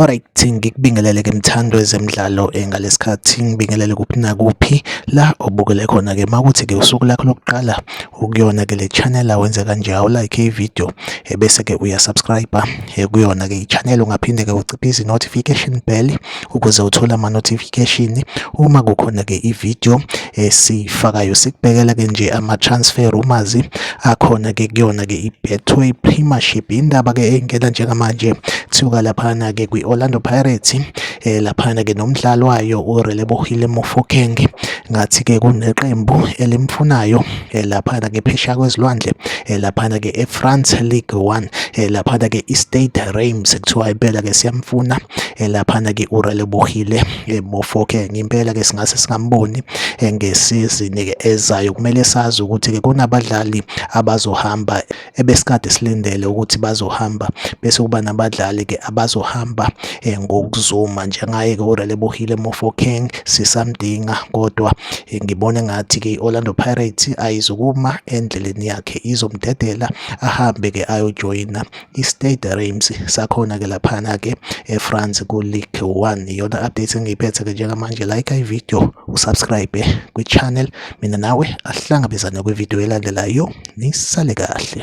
Alright, ngikubingelele-ke mthando wezemidlalo eh, ngalesikhathi ngibingelele kuphi nakuphi la obukele khona-ke makuthi-ke usuku lakho lokuqala ukuyona-ke le channel awenze kanje awulike ividiyo eh, ebese-ke uyasubscribe eh, kuyona-ke i-channel ungaphinde-ke uciphe izi-notification bell ukuze uthole ama notification uma kukhona ke i video esifakayo sikubekela ke nje ama transfer rumors akhona ke kuyona ke i Betway Premiership indaba ke engena njengamanje kuthiwa laphana ke kwi Orlando Pirates eh, laphana ke nomdlalo wayo uRelebohile Mofokeng ngathi ke kuneqembu elimfunayo eh, laphana ke phesha kwezilwandle eh, laphana ke eFrance League 1 eh, laphana ke iStade Reims kuthiwa impela ke siyamfuna laphana ke uRelebohile Mofo ke ngempela ke singase singamboni ngesizini ke ezayo kumele sazi ukuthi ke kunabadlali abazohamba ebesikade silindele ukuthi bazohamba bese kuba nabadlali-ke abazohamba um ngokuzuma njengaye-ke urelebohile mofokeng sisamdinga kodwa um ngibona ngathi-ke i-orlando pirates ayizukuma endleleni yakhe izomdedela ahambe-ke ayojoyina i-stade reims sakhona-ke laphana-ke efrance ku-league one iyona update engiyiphethe-ke njengamanje like ivideo usubscribe kwi-channel mina nawe ahlangabezane kwividiyo elandelayo nisale kahle